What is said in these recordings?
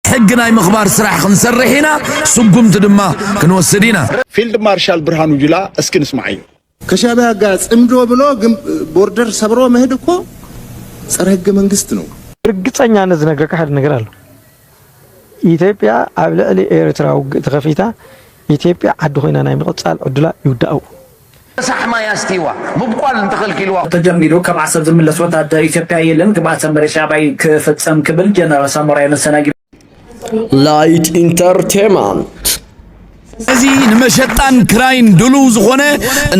ሕጊ ናይ ምኽባር ስራሕ ክንሰርሕ ኢና፣ ስጉምቲ ድማ ክንወስድ ኢና። ፊልድ ማርሻል ብርሃኑ ጁላ እስኪ ንስማዓዮ። ከሻቢያ ጋር ጽምዶ ብሎ ግን ቦርደር ሰብሮ መሄድ እኮ ጸረ ህገ መንግስት ነው። ብርግጸኛነት ዝነግረካ ሓደ ነገር ኣሎ። ኢትዮጵያ ኣብ ልዕሊ ኤርትራ ውግእ ተኸፊታ ኢትዮጵያ ዓዲ ኮይና ናይ ምቕጻል ዕድላ ይውዳእ። ረሳሕ ማይ ኣስትይዋ ምብቋል እንተኸልኪልዋ። ተጀሚሩ ካብ ዓሰብ ዝምለስ ወታደር ኢትዮጵያ የለን ግብኣተ መሬት ሻዕብያ ክፍፀም ክብል ጀነራል ሳሞራ የኑስ ተናጊሩ። ላይት ኢንተርቴመንት እዚ ንመሸጣን ክራይን ድሉው ዝኾነ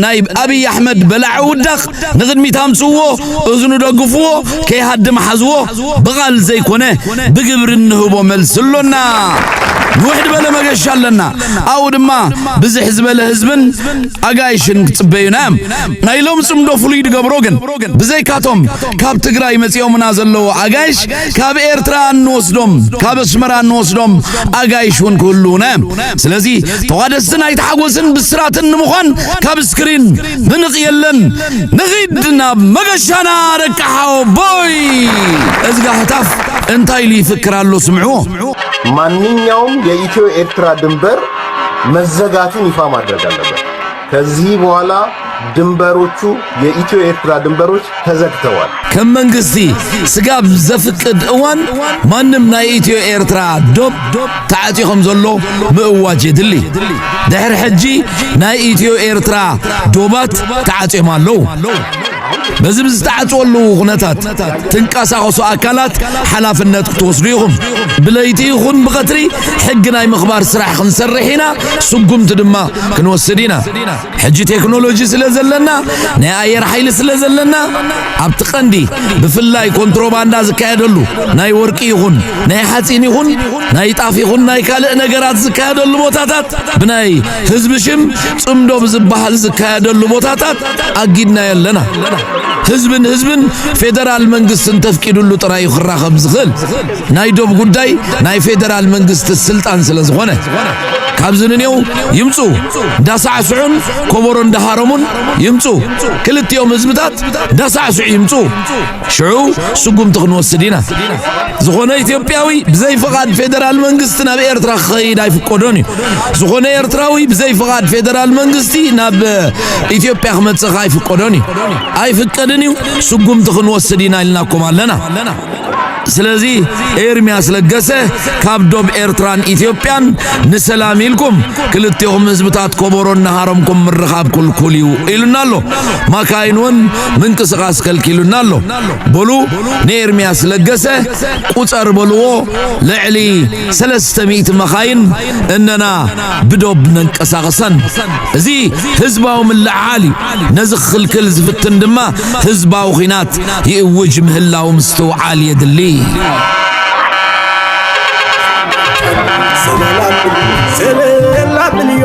ናይ ኣብይ ኣሕመድ በላዕ ውዳቕ ንቕድሚት ኣምፅዎ እዝኑ ደግፍዎ ከይሃድም ሓዝዎ ብቓል ዘይኮነ ብግብሪ እንህቦ መልሲ ኣሎና ንውሕድ በለ መገሻ ኣለና ኣብኡ ድማ ብዝሕ ዝበለ ህዝብን ኣጋይሽን ክጽበዩና እዮም ናይ ሎም ጽምዶ ፍሉይ ድገብሮ ግን ብዘይካቶም ካብ ትግራይ መጺኦምና ዘለዎ ኣጋይሽ ካብ ኤርትራ እንወስዶም ካብ ኣስመራ እንወስዶም ኣጋይሽ እውን ክህልውና እዮም ስለዚ ተዋደስቲ ናይ ተሓጎስን ብስራትን ንምዃን ካብ ስክሪን ምንቕ የለን ንኺድ ናብ መገሻና ደቂ ሓወቦይ እዝጋ ህታፍ እንታይ ኢሉ ይፍክር ኣሎ ስምዕዎ ማንኛውም የኢትዮ ኤርትራ ድንበር መዘጋቱን ይፋ ማድረግ አለበት። ከዚህ በኋላ ድንበሮቹ የኢትዮ ኤርትራ ድንበሮች ተዘግተዋል። ከም መንግስቲ ስጋብ ዘፍቅድ እዋን ማንም ናይ ኢትዮ ኤርትራ ዶብ ተዓጽዩ ከም ዘሎ ምእዋጅ የድሊ። ድሕሪ ሕጂ ናይ ኢትዮ ኤርትራ ዶባት ተዓጽዮም ኣለዉ። በዚ ብዝተዓጽወሉ ኩነታት ትንቀሳቐሱ ኣካላት ሓላፍነት ክትወስዱ ኢኹም። ብለይቲ ይኹን ብቐትሪ ሕጊ ናይ ምኽባር ስራሕ ክንሰርሕ ኢና፣ ስጉምቲ ድማ ክንወስድ ኢና። ሕጂ ቴክኖሎጂ ስለ ዘለና ናይ ኣየር ሓይሊ ስለ ዘለና ኣብቲ ቀንዲ ብፍላይ ኮንትሮባንዳ ዝካየደሉ ናይ ወርቂ ይኹን ናይ ሓጺን ይኹን ናይ ጣፍ ይኹን ናይ ካልእ ነገራት ዝካየደሉ ቦታታት ብናይ ህዝቢ ሽም ጽምዶ ብዝበሃል ዝካየደሉ ቦታታት ኣጊድና የለና። ህዝብን ህዝብን ፌደራል መንግስቲ እንተፍቂድሉ ጥራይ እዩ ክራኸብ ዝኽእል። ናይ ዶብ ጉዳይ ናይ ፌደራል መንግስቲ ስልጣን ስለ ዝኾነ ካብዚ ንኔው ይምፁ እንዳሳዕስዑን ኮቦሮ እንዳሃረሙን ይምፁ ክልቲኦም ህዝብታት እንዳሳዕስዑ ይምፁ ሽዑ ስጉምቲ ክንወስድ ኢና። ዝኾነ ኢትዮጵያዊ ብዘይ ፍቓድ ፌደራል መንግስቲ ናብ ኤርትራ ክኸይድ ኣይፍቀዶን እዩ። ዝኾነ ኤርትራዊ ብዘይ ፍቓድ ፌደራል መንግስቲ ናብ ኢትዮጵያ ክመጽእ ከኣ ኣይፍቀዶን እዩ። ኣይፍቀድን እዩ፣ ስጉምቲ ክንወስድ ኢና ኢልናኩም ኣለና። ስለዚ ኤርሚያስ ለገሰ ካብ ዶብ ኤርትራን ኢትዮጵያን ንሰላም ኢልኩም ክልቴኹም ህዝብታት ኮቦሮ እናሃረምኩም ምርኻብ ኩልኩል እዩ ኢሉና ኣሎ ማካይን እውን ምንቅስቃስ ከልኪሉና ኣሎ በሉ ንኤርሚያስ ለገሰ ቁፀር በልዎ ልዕሊ ሰለስተ ሚእቲ መኻይን እነና ብዶብ ነንቀሳቕሰን እዚ ህዝባዊ ምልዕዓል እዩ ነዚ ክኽልክል ዝፍትን ድማ ህዝባዊ ኹናት ይእውጅ ምህላው ምስትውዓል የድሊ ሰበላ ብልዮ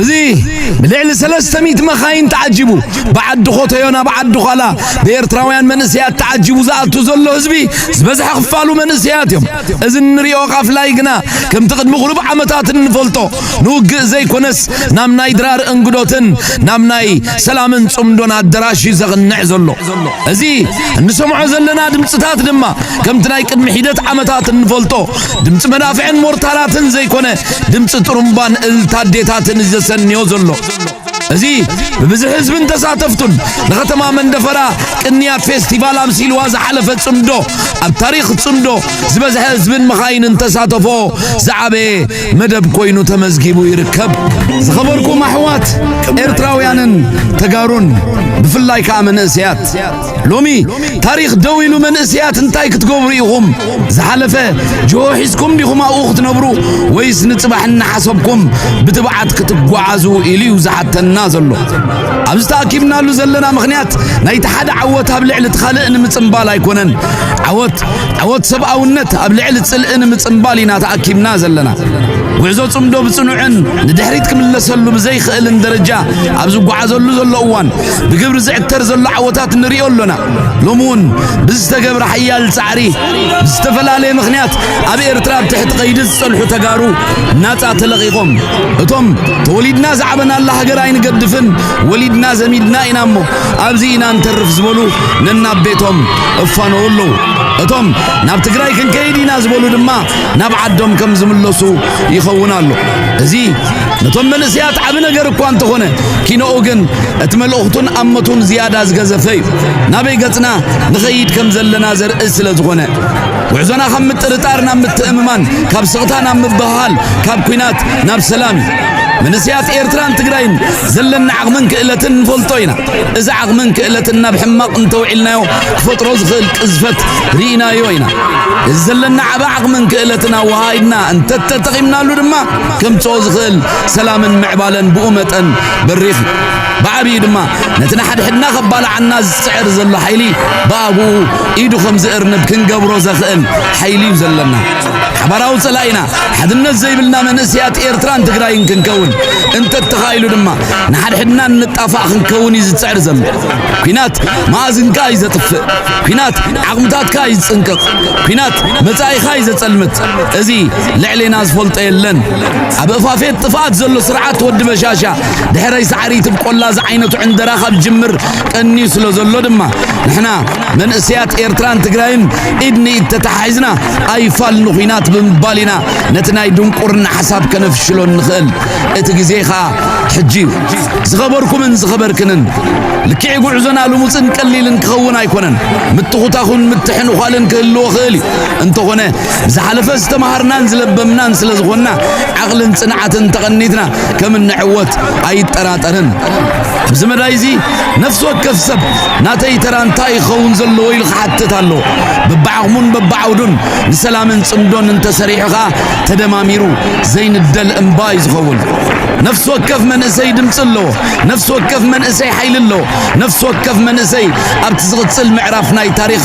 እዚ ብልዕሊ ሰለስተ ሚእቲ መኻይን ተዓጂቡ ብዓዲ ኾተዮ ናብ ዓዲ ዃላ ብኤርትራውያን መንእሰያት ተዓጂቡ ዝኣቱ ዘሎ ህዝቢ ዝበዝሐ ክፋሉ መንእሰያት እዮም። እዚ እንሪኦ ቃፍላይ ግና ከምቲ ቅድሚ ቁሩብ ዓመታት እንፈልጦ ንውግእ ዘይኮነስ ናብ ናይ ድራር እንግዶትን ናብ ናይ ሰላምን ጽምዶን ኣደራሽ እዩ ዘቕንዕ ዘሎ። እዚ እንሰምዖ ዘለና ድምጽታት ድማ ከምቲ ናይ ቅድሚ ሒደት ዓመታት እንፈልጦ ድምፂ መዳፍዕን ሞርታራትን ዘይኮነ ድምፂ ጥሩምባን እልልታ ኣዴታትን እዩ ዘሰንዮ ዘሎ እዚ ብብዝሒ ህዝብን ተሳተፍቱን ንኸተማ መንደፈራ ቅንያት ፌስቲቫል ኣምሲልዋ ዝሓለፈ ጽምዶ ኣብ ታሪኽ ጽምዶ ዝበዝሐ ህዝብን መኻይንን ተሳተፎ ዝዓበየ መደብ ኮይኑ ተመዝጊቡ ይርከብ። ዝኸበርኩም ኣሕዋት ኤርትራውያንን ተጋሩን ብፍላይ ከዓ መንእሰያት ሎሚ ታሪኽ ደው ኢሉ መንእሰያት እንታይ ክትገብሩ ኢኹም? ዝሓለፈ ጅሆ ሒዝኩም ዲኹም ኣብኡ ክትነብሩ ወይስ ንጽባሕ እናሓሰብኩም ብትብዓት ክትጓዓዙ ኢሉ እዩ ዝሓተና ዘሎ። ኣብዚ ተኣኪብናሉ ዘለና ምኽንያት ናይቲ ሓደ ዓወት ኣብ ልዕሊ እቲ ካልእ ንምጽምባል ኣይኮነን። ዓወት ዓወት ሰብኣውነት ኣብ ልዕሊ ጽልኢ ንምጽምባል ኢና ተኣኪብና ዘለና። ጉዕዞ ጽምዶ ብጽኑዕን ንድሕሪት ክምለሰሉ ብዘይክእልን ደረጃ ኣብ ዝጓዓዘሉ ዘሎ እዋን ብግብሪ ዝዕተር ዘሎ ዓወታት ንሪኦ ኣሎና። ሎሚ እውን ብዝተገብረ ሓያል ጻዕሪ ብዝተፈላለየ ምኽንያት ኣብ ኤርትራ ኣብ ትሕቲ ቀይዲ ዝጸንሑ ተጋሩ ናጻ ተለቒቖም እቶም ተወሊድና ዝዓበናላ ሃገር ኣይንገድፍን ወሊድና ዘሚድና ኢና እሞ ኣብዚ ኢና ንተርፍ ዝበሉ ነናብ ቤቶም እፋነዉ ኣለዉ። እቶም ናብ ትግራይ ክንከይድ ኢና ዝበሉ ድማ ናብ ዓዶም ከም ዝምለሱ ይኸውን ኣሎ እዚ ነቶም መንእሰያት ዓቢ ነገር እኳ እንተኾነ ኪኖኡ ግን እቲ መልእኽቱን ኣመቱን ዝያዳ ዝገዘፈ እዩ። ናበይ ገጽና ንኸይድ ከም ዘለና ዘርኢ ስለ ዝኾነ ጉዕዞና ካብ ምጥርጣር ናብ ምትእምማን፣ ካብ ስቕታ ናብ ምብህሃል፣ ካብ ኲናት ናብ ሰላም እዩ። መንእሰያት ኤርትራን ትግራይን ዘለና ዓቕምን ክእለትን ንፈልጦ ኢና። እዚ ዓቕምን ክእለትን ናብ ሕማቕ እንተውዒልናዮ ክፈጥሮ ዝኽእል ቅዝፈት ርኢናዮ ኢና። እዚ ዘለና ዓቢ ዓቕምን ክእለትን ኣወሃሂድና እንተተጠቒምናሉ ድማ ከምጽኦ ዝኽእል ሰላምን ምዕባለን ብኡ መጠን በሪኽ እዩ። ብዓብዪ ድማ ነቲ ንሓድሕድና ከባልዓና ዝጽዕር ዘሎ ሓይሊ ብኣግኡ ኢዱ ከም ዝእርንብ ክንገብሮ ዘኽእል ሓይሊ እዩ ዘለና። ሓባራዊ ጸላኢና ሓድነት ዘይብልና መንእሰያት ኤርትራን ትግራይን ክንከውን እንተተኻኢሉ ድማ ንሓድሕድና እንጣፋእ ክንከውን እዩ ዝጽዕር ዘሎ። ኲናት መኣዝንካ እዩ ዘጥፍእ። ኲናት ዓቕምታትካ እዩ ዝጽንቅቕ። ኲናት መጻኢኻ እዩ ዘጸልምት። እዚ ልዕሌና ዝፈልጦ የለን ኣብ እፋፌት ጥፍኣት ዘሎ ስርዓት ወዲ በሻሻ ድሕረይ ሳዕሪ ትብቆላ ዝዓይነቱ ዕንደራ ካብ ጅምር ቀንዩ ስለ ዘሎ ድማ ንሕና መንእሰያት ኤርትራን ትግራይን ኢድ ንኢድ ተተሓሒዝና ኣይፋል ንኹናት ብምባል ኢና ነቲ ናይ ድንቁርና ሓሳብ ከነፍሽሎ ንኽእል እቲ ግዜ ኸዓ ሕጂ እዩ ዝኸበርኩምን ዝኸበርክንን ልክዕ ጉዕዞና ልሙፅን ቀሊልን ክኸውን ኣይኮነን ምትኹታኹን ምትሕንዃልን ክህልዎ ኽእል እዩ እንተኾነ ዝሓለፈ ዝተማሃርናን ዝለበምናን ስለ ዝኾንና ዓቕልን ጽንዓትን ተቐኒትና ከም እንዕወት ኣይጠራጠርን። ኣብዚ መዳይ እዚ ነፍሲ ወከፍ ሰብ ናተይ ተራ እንታይ ይኸውን ዘለዎ ኢሉ ክሓትት ኣሎ። በብዓቕሙን በብዓውዱን ንሰላምን ጽምዶን እንተሰሪሑ ኸኣ ተደማሚሩ ዘይንደል እምባ እዩ ዝኸውን። ነፍሲ ወከፍ መንእሰይ ድምፂ ኣለዎ። ነፍሲ ወከፍ መንእሰይ ሓይሊ ኣለዎ። ነፍሲ ወከፍ መንእሰይ ኣብቲ ዝቕጽል ምዕራፍ ናይ ታሪኽ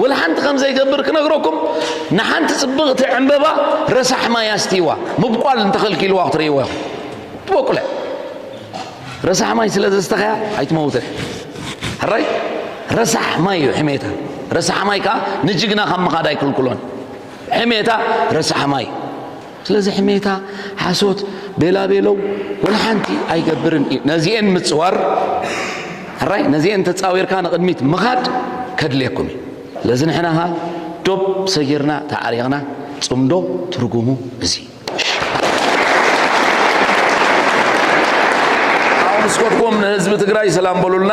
ወላሓንቲ ከም ዘይገብር ክነግረኩም ንሓንቲ ጽብቕቲ ዕምበባ ረሳሕ ማይ ኣስትይዋ ምብቋል እንተኸልኪልዋ ክትርእይዎ ኢኹም ትበቁለ ረሳሕ ማይ ስለ ዘስተኸያ ኣይትመውትን ሕራይ ረሳሕ ማይ እዩ ሕሜታ ረሳሕ ማይ ከዓ ንጅግና ካብ ምኻድ ኣይክልክሎን ሕሜታ ረሳሕ ማይ ስለዚ ሕሜታ፣ ሓሶት፣ ቤላቤለው ወላ ሓንቲ ኣይገብርን እዩ። ነዚኤን ምጽዋር ሕራይ ነዚኤን ተጻዊርካ ንቕድሚት ምኻድ ከድልየኩም እዩ። ስለዚ ንሕና ኸኣ ዶብ ሰጊርና ተዓሪቕና ጽምዶ ትርጉሙ እዚ ኣውንስኮትኩም ንህዝቢ ትግራይ ሰላም በሉልና።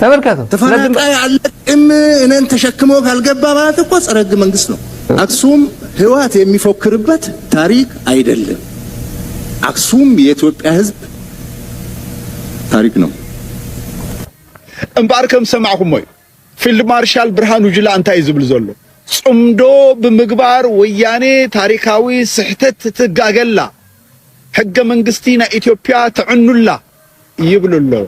ተመልከቱ። ተፈናቃይ አለቅም እኔን ተሸክሞ ካልገባ ማለት እኮ ጸረ ህገ መንግስት ነው። አክሱም ህወሓት የሚፎክርበት ታሪክ አይደለም። አክሱም የኢትዮጵያ ህዝብ ታሪክ ነው። እምበኣር ከም ሰማዕኹሞ እዩ ፊልድ ማርሻል ብርሃኑ ጁላ እንታይ እዩ ዝብል ዘሎ ጽምዶ ብምግባር ወያኔ ታሪካዊ ስሕተት ትጋገላ ሕገ መንግስቲ ናይ ኢትዮፕያ ተዕኑላ ይብሉ ኣለዉ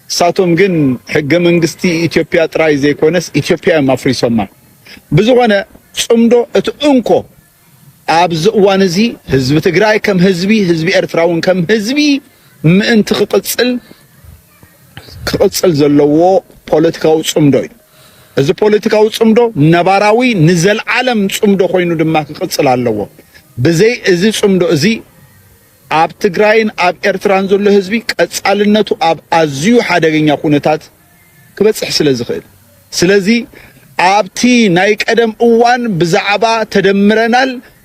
ንሳቶም ግን ሕገ መንግስቲ ኢትዮፕያ ጥራይ ዘይኮነስ ኢትዮፕያ እዮም ኣፍሪሶማ ብዝኾነ ጽምዶ እቲ እንኮ ኣብዚ እዋን እዚ ህዝቢ ትግራይ ከም ህዝቢ ህዝቢ ኤርትራ ውን ከም ህዝቢ ምእንቲ ክቅጽል ክቕጽል ዘለዎ ፖለቲካዊ ጽምዶ እዩ። እዚ ፖለቲካዊ ጽምዶ ነባራዊ ንዘልዓለም ጽምዶ ኮይኑ ድማ ክቕጽል ኣለዎ። ብዘይ እዚ ጽምዶ እዚ ኣብ ትግራይን ኣብ ኤርትራን ዘሎ ህዝቢ ቀጻልነቱ ኣብ ኣዝዩ ሓደገኛ ኩነታት ክበጽሕ ስለ ዝኽእል ስለዚ ኣብቲ ናይ ቀደም እዋን ብዛዕባ ተደምረናል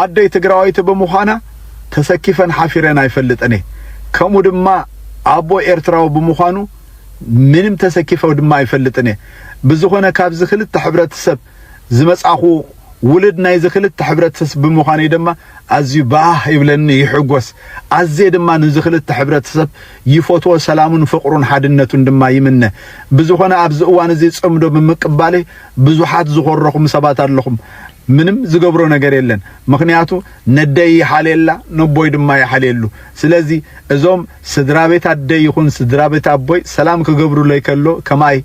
ኣደይ ትግራወይቲ ብምዃና ተሰኪፈን ሓፊረን ኣይፈልጥን'የ ከምኡ ድማ ኣቦይ ኤርትራዊ ብምዃኑ ምንም ተሰኪፈ ድማ ኣይፈልጥን'የ ብዝኾነ ካብዚ ክልተ ሕብረተሰብ ዝመጻኹ ውልድ ናይዚ ክልተ ሕብረተሰብ ብምዃነይ ድማ ኣዝዩ ባህ ይብለኒ ይሕጎስ ኣዝየ ድማ ንዚ ክልተ ሕብረተሰብ ይፎትዎ ሰላሙን ፍቕሩን ሓድነቱን ድማ ይምነ ብዝኾነ ኣብዚ እዋን እዚ ጽምዶ ብምቅባለይ ብዙሓት ዝኾረኹም ሰባት ኣለኹም ምንም ዝገብሮ ነገር የለን ምኽንያቱ ነደይ ይሓልየላ ነቦይ ድማ ይሓልየሉ ስለዚ እዞም ስድራቤት ኣደይ ይኹን ስድራቤት ኣቦይ ሰላም ክገብሩለይ ከሎ ከማይ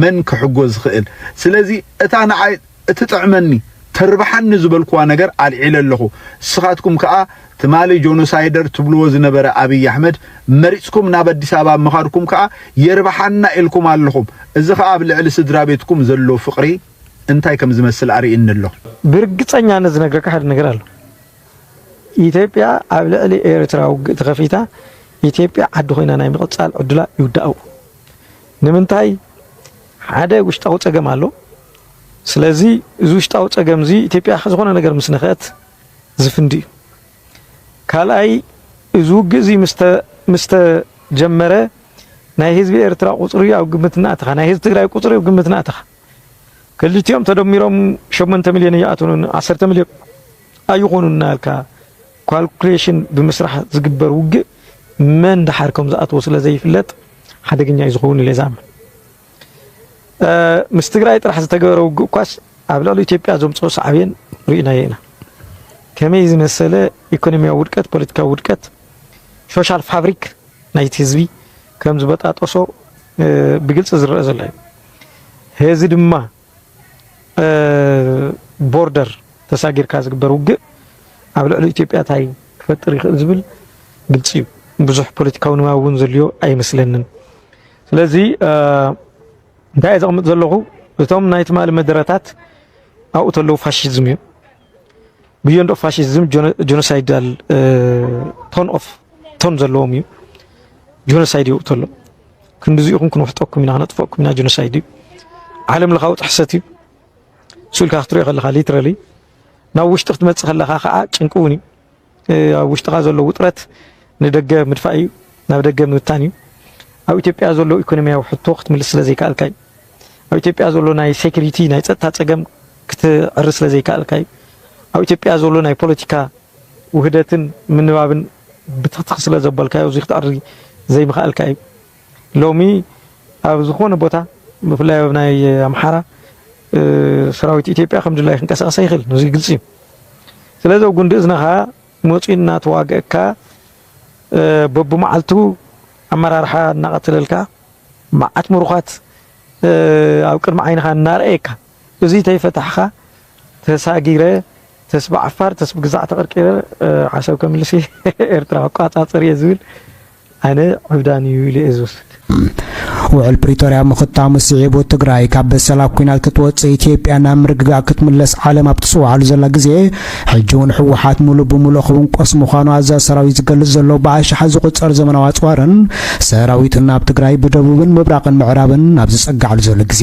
መን ክሕጎ ዝኽእል ስለዚ እታ ንዓይ እትጥዕመኒ ተርብሓኒ ዝበልኩዋ ነገር ኣልዒለ ኣለኹ ንስኻትኩም ከኣ ትማሊ ጆኖሳይደር ትብልዎ ዝነበረ ኣብይ ኣሕመድ መሪጽኩም ናብ ኣዲስ ኣበባ ምኻድኩም ከኣ የርብሓና ኢልኩም ኣለኹም እዚ ከኣ ኣብ ልዕሊ ስድራ ቤትኩም ዘሎ ፍቕሪ እንታይ ከም ዝመስል ኣርእይኒ ኣሎ። ብርግጸኛነት ዝነግረካ ሓደ ነገር ኣሎ። ኢትዮጵያ ኣብ ልዕሊ ኤርትራ ውግእ ተኸፊታ ኢትዮጵያ ዓዲ ኮይና ናይ ምቕጻል ዕድላ ይውዳእዎ። ንምንታይ ሓደ ውሽጣዊ ጸገም ኣሎ። ስለዚ እዚ ውሽጣዊ ጸገም እዚ ኢትዮጵያ ዝኾነ ነገር ምስ ነኸት ዝፍንድ እዩ። ካልኣይ እዚ ውግእ እዚ ምስ ተጀመረ ናይ ህዝቢ ኤርትራ ቁጽሪ ኣብ ግምት እናእተኻ ናይ ህዝቢ ትግራይ ቁጽሪ ኣብ ግምት እናእተኻ ክልቲኦም ተደሚሮም ሸሞንተ ሚልዮን ኣይኣትኑን ዓሰርተ ሚልዮን ኣይኾኑን እናበልካ ኳልኩሌሽን ብምስራሕ ዝግበር ውግእ መን ደሓር ከም ዝኣትዎ ስለ ዘይፍለጥ ሓደገኛ እዩ ዝኸውን ኢለ ዝኣምን ምስ ትግራይ ጥራሕ ዝተገበረ ውግእ እኳስ ኣብ ልዕሊ ኢትዮጵያ ዘምፅኦ ሳዕቤን ርኢናዮ ኢና። ከመይ ዝመሰለ ኢኮኖሚያዊ ውድቀት፣ ፖለቲካዊ ውድቀት፣ ሶሻል ፋብሪክ ናይቲ ህዝቢ ከም ዝበጣጠሶ ብግልፂ ዝረአ ዘሎ እዩ። ሔዚ ድማ ቦርደር ተሳጊርካ ዝግበር ውግእ ኣብ ልዕሊ ኢትዮጵያ ታይ ክፈጥር ይኽእል ዝብል ግልፂ እዩ። ብዙሕ ፖለቲካዊ ንባብ እውን ዘልዮ ኣይመስለንን። ስለዚ እንታይ እየ ዘቕምጥ ዘለኹ እቶም ናይ ትማሊ መደረታት ኣብኡ ተለዉ ፋሽዝም እዩ። ብዮንድ ኦፍ ፋሽዝም ጆኖሳይዳል ቶን ኦፍ ቶን ዘለዎም እዩ ጆኖሳይድ ይውእቶ ኣሎ ክንዲዚ ኢኹም ክንውሕጠኩም ኢና ክነጥፈኩም ኢና ጆኖሳይድ እዩ ዓለም ለኻዊ ጥሕሰት እዩ ስኢልካ ክትሪኦ ከለኻ ሊትራሊ ናብ ውሽጢ ክትመፅእ ከለኻ ከዓ ጭንቂ እውን እዩ ኣብ ውሽጥኻ ዘሎ ውጥረት ንደገ ምድፋእ እዩ፣ ናብ ደገ ምብታን እዩ። ኣብ ኢትዮጵያ ዘሎ ኢኮኖሚያዊ ሕቶ ክትምልስ ስለ ዘይከኣልካ እዩ። ኣብ ኢትዮጵያ ዘሎ ናይ ሴኩሪቲ ናይ ጸጥታ ጸገም ክትዕሪ ስለ ዘይከኣልካ እዩ። ኣብ ኢትዮጵያ ዘሎ ናይ ፖለቲካ ውህደትን ምንባብን ብትኽትኽ ስለ ዘበልካዮ እዚ ክትዕሪ ዘይምኽኣልካ እዩ። ሎሚ ኣብ ዝኾነ ቦታ ብፍላይ ኣብ ናይ ኣምሓራ ሰራዊት ኢትዮጵያ ከም ድላይ ክንቀሳቀስ ኣይኽእል እዚ ግልፂ እዩ። ስለዚ ኣብ ጉንዲ እዝንኻ መፂኡ እናተዋገእካ በብመዓልቱ ኣመራርሓ እናቐተለልካ መዓት ምሩኻት ኣብ ቅድሚ ዓይንኻ እናርኣየካ እዙይ ተይፈታሕኻ ተሳጊረ ተስብ ዓፋር ተስብ ግዛዕ ተቐርቂረ ዓሰብ ከምልስ እየ ኤርትራ ክቋፃፅር እየ ዝብል ኣነ ዕብዳን እዩ ኢሉ እየ ዝወስድ። ውዕል ፕሪቶርያ ምኽታሙ ስዒቡ ትግራይ ካብ በሰላ ኲናት ክትወፅእ ኢትዮጵያ ናብ ምርግጋእ ክትምለስ ዓለም ኣብ ትፅውዓሉ ዘላ ግዜ ሕጂ እውን ህወሓት ሙሉእ ብሙሉእ ክውንቆስ ምዃኑ ኣዛዚ ሰራዊት ዝገልፅ ዘሎ ብኣሽሓት ዝቑፀር ዘመናዊ ኣፅዋርን ሰራዊትን ናብ ትግራይ ብደቡብን ምብራቕን ምዕራብን ኣብ ዝፀግዓሉ ዘሎ ግዜ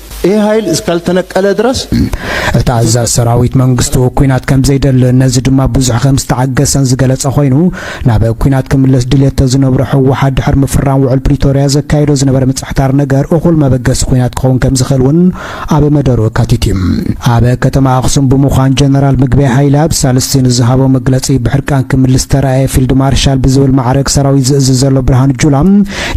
ይህ ኃይል እስካልተነቀለ ድረስ እቲ ኣዛዝ ሰራዊት መንግስቱ ኩናት ከም ዘይደሊ ነዚ ድማ ብዙሕ ከም ዝተዓገሰን ዝገለጸ ኮይኑ ናብ ኩናት ክምለስ ድልየት ተዝነብሮ ህወሓት ድሕሪ ምፍራም ውዕል ፕሪቶርያ ዘካየዶ ዝነበረ ምጽሕታር ነገር እኹል መበገሲ ኩናት ክኸውን ከም ዝኽእል እውን ኣብ መደሩ ኣካቲት እዩ። ኣብ ከተማ ኣክሱም ብምዃን ጀነራል ምግበይ ሃይለ ኣብ ሳልስቲ ንዝሃቦ መግለጺ ብሕርቃን ክምልስ ተራእየ ፊልድ ማርሻል ብዝብል ማዕረግ ሰራዊት ዝእዝዝ ዘሎ ብርሃኑ ጁላ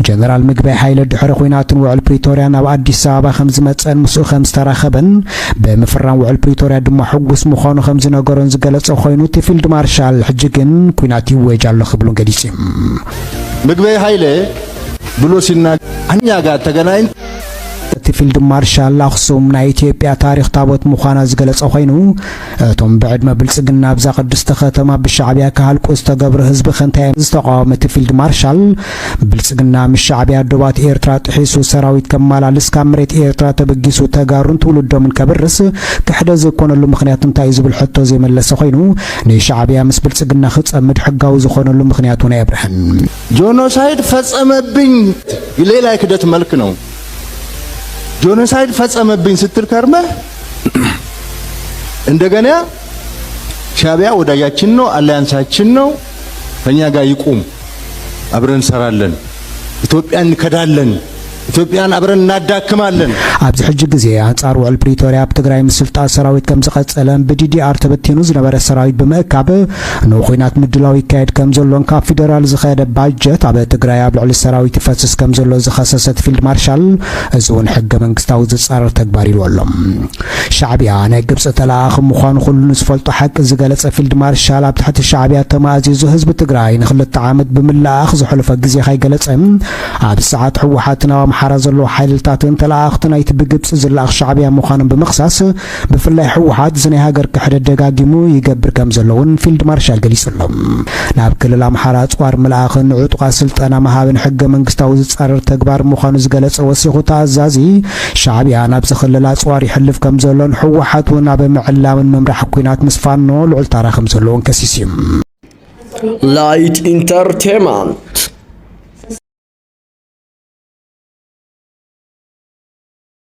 ጀነራል ምግበይ ሃይለ ድሕሪ ኹናትን ውዕል ፕሪቶርያ ናብ ኣዲስ ኣበባ ከምዝመፀን ምስኡ ከምዝተራኸበን ብምፍራም ውዕል ፕሪቶርያ ድማ ሕጉስ ምዃኑ ከምዝነገሮን ዝገለፀ ኾይኑ እቲ ፊልድ ማርሻል ሕጂ ግን ኩናት ይወጅ ኣሎ ክብሉን ገሊፁ ምግበይ ሃይለ ብሎ ሲና ኣኛ ጋር ተገናኝ እቲ ፊልድ ማርሻል ኣኽሱም ናይ ኢትዮጵያ ታሪኽ ታቦት ምዃና ዝገለጸ ኮይኑ እቶም ብዕድመ ብልጽግና ኣብዛ ቅድስቲ ከተማ ብሻዕብያ ክሃልቁ ዝተገብሩ ህዝቢ ከንታይ ዝተቃወመ እቲ ፊልድ ማርሻል ብልጽግና ምስ ሻዕብያ ዶባት ኤርትራ ጥሒሱ ሰራዊት ከማላልስ ካብ መሬት ኤርትራ ተበጊሱ ተጋሩን ትውልዶምን ከብርስ ክሕደ ዘይኮነሉ ምክንያት እንታይ እዩ ዝብል ሕቶ ዘይመለሰ ኮይኑ ንሻዕብያ ምስ ብልጽግና ክጸምድ ሕጋዊ ዝኾነሉ ምክንያት እውን ኣየብርሀን። ጆኖሳይድ ፈጸመብኝ ሌላ የክደት መልክ ነው። ጆኖሳይድ ፈጸመብኝ ስትል ከርመህ እንደገና ሻቢያ ወዳጃችን ነው፣ አሊያንሳችን ነው፣ ከኛ ጋር ይቁም፣ አብረን እንሰራለን፣ ኢትዮጵያ እንከዳለን ኢትዮጵያን አብረን እናዳክማለን። ኣብዚ ሕጂ ግዜ ኣንጻር ውዕል ፕሪቶርያ ኣብ ትግራይ ምስልጣ ሰራዊት ከም ዝቐጸለን ብዲዲኣር ተበቲኑ ዝነበረ ሰራዊት ብምእካብ ንኹናት ምድላው ይካየድ ከምዘሎን ካብ ፊደራል ዝኸደ ባጀት ኣብ ትግራይ ኣብ ልዕሊ ሰራዊት ይፈስስ ከምዘሎ ዝኸሰሰት ፊልድ ማርሻል እዚ እውን ሕገ መንግስታዊ ዝፃረር ተግባር ኢልዎ ኣሎ። ሻዕቢያ ናይ ግብፂ ተለኣኣኺ ምዃኑ ኩሉ ንዝፈልጦ ሓቂ ዝገለፀ ፊልድ ማርሻል ኣብ ትሕቲ ሻዕቢያ ተማእዚዙ ህዝቢ ትግራይ ንክልተ ዓመት ብምልእኣኽ ዘሕለፎ ግዜ ከይገለፀ ኣብዚ ሰዓት ህወሓትን ኣብ ኣምሓራ ዘለዉ ሓይልልታትን ተለኣኣኽቲ ናይቲ ብግብፂ ዝለኣኽ ሻዕቢያ ምዃኖም ብምኽሳስ ብፍላይ ህወሓት እዚ ናይ ሃገር ክሕደት ደጋጊሙ ይገብር ከምዘሎ እውን ፊልድ ማርሻል ገሊፁ ኣሎ። ናብ ክልል ኣምሓራ ኣፅዋር ምልኣኽን ንዕጡቓት ስልጠና ምሃብን ሕገ መንግስታዊ ዝፃረር ተግባር ምዃኑ ዝገለፀ ወሲኹ እቲ ኣዛዚ፣ ሻዕቢያ ናብዚ ክልል ኣፅዋር የሕልፍ ከምዘሎን ህወሓት እውን ኣብ ምዕላምን ምምራሕ ኲናት ምስ ፋኖ ልዑል ታራ ከምዘለዎን ከሲሱ እዩ። Light Entertainment